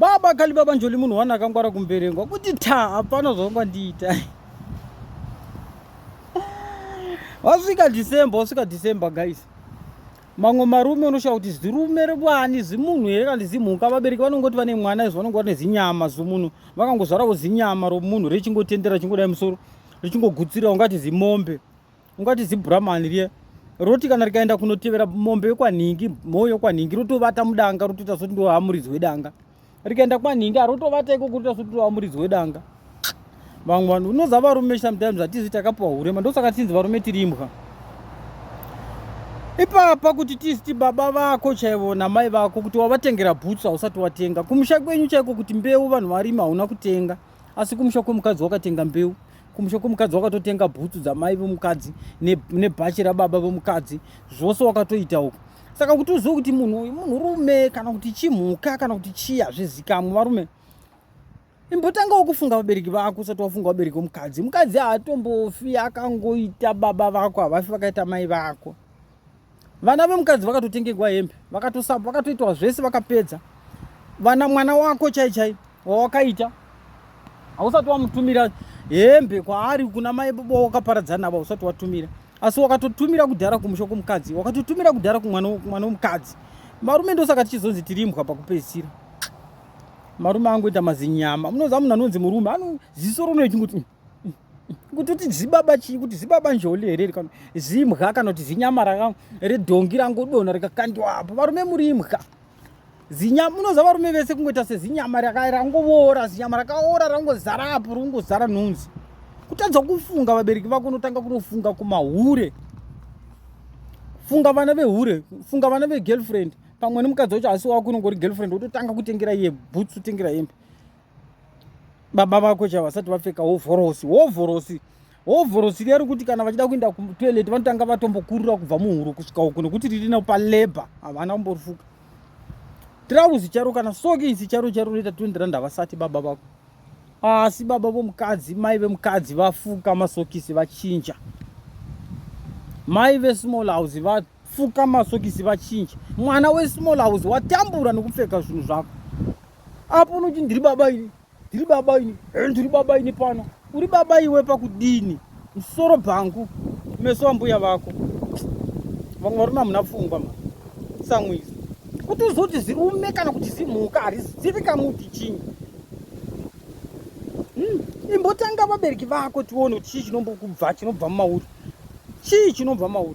Baba kali baba njoli munhu wani akangwara kumberengwa kuti ta hapana zvaunga ndiita wasvika december wasvika december guys mamwe marume unoshaya kuti zirume revani zimunhu here kana zimhuka vabereki vanongoti vane mwana izvo vanonge vane zinyama zomunhu vakangozvaravo zinyama romunhu richingotendera richingodai musoro richingogutsira ungati zimombe ungati zibramani riye roti kana rikaenda kunotevera mombe yekwanhingi mhou yekwanhingi rotovata mudanga rotoita soti ndoamuridzi wedanga rikaenda kwanhingi arotovata ikoko rotoita soti ndoamuridzi wedanga vamwe vanhu unoza varume sometimes hatizi takapiwa hurema ndosaka tinzi varume tiri imbwa ipapa kuti tisiti baba vako chaivo namai vako kuti wavatengera bhutsu hausati watenga kumusha kwenyu chaiko kuti mbeu vanhu varima hauna kutenga asi kumusha kwemukadzi wakatenga mbeu kumusha kwemukadzi wakatotenga bhutsu dzamai vemukadzi nebhachi rababa vemukadzi zvose wakatoita uku saka kuti uzive kuti munhu uyu munhurume kana kuti chimhuka kana kuti chii hazvizikamwe varume imbotanga wokufunga vabereki vako usati wafunga vabereki vemukadzi mukadzi haatombofi akangoita baba vako havafi vakaita mai vako vana vemukadzi vakatotengegwa hembe vakatosapa vakatoitwa zvese vakapedza vana mwana wako chai chai wawakaita hausati wamutumira hembe kwaari kuna mai baba wakaparadzana navo hausati watumira asi wakatotumira kudhara kumusha kwomukadzi wakatotumira kudhara kumwana womukadzi marume ndosaka tichizonzi tirimbwa pakupedzisira marume angoita mazinyama munoziva munhu anonzi murume ano ziso ronoechingoti mm. kuti uti zibaba chii kuti zibaba njoli here rikano zimha kana kuti zinyama raka redhongi rangodona rikakandiwa apo varume muri imha zinyama unoziva varume vese kungoita sezinyama raka rangoora zinyama rakaora rangozara apo rongozara nhunzi kutadza kufunga vabereki vako unotanga kunofunga kumahure funga vana vehure funga vana vegirlfriend pamwe nemukadzi wacho asi wako unongori girlfriend wototanga kutengera iye boots utengera hembe baba vako chavo vasati vapfeka hovhorosi hovhorosi hovhorosi riya rekuti kana vachida kuenda kutoilet vanotanga vatombokurura kubva muhuro kusvika uku nekuti riri nao paleba havana kumborifuka trauzi charo kana soki isi charo charo rinoita 20 rand havasati baba vako asi baba vomukadzi mai vemukadzi vafuka masokisi vachinja mai vesmall house vafuka masokisi vachinja mwana wesmall house watambura nekupfeka zvinhu zvako Apa unoti ndiri baba ini, ndiri baba ini, eh, ndiri baba ini pano. Uri baba iwe pakudini? Musoro bhangu, meso ambuya vako. Vamwe varume hamuna pfungwa ma. Samwizi. Kuti uzoti zirume kana kuti zimhuka harizivi kamuti chinyi. Hmm. Imbotanga vabereki vako tione kuti chii chinombokubva chinobva mumauri. Chii chinobva mauri?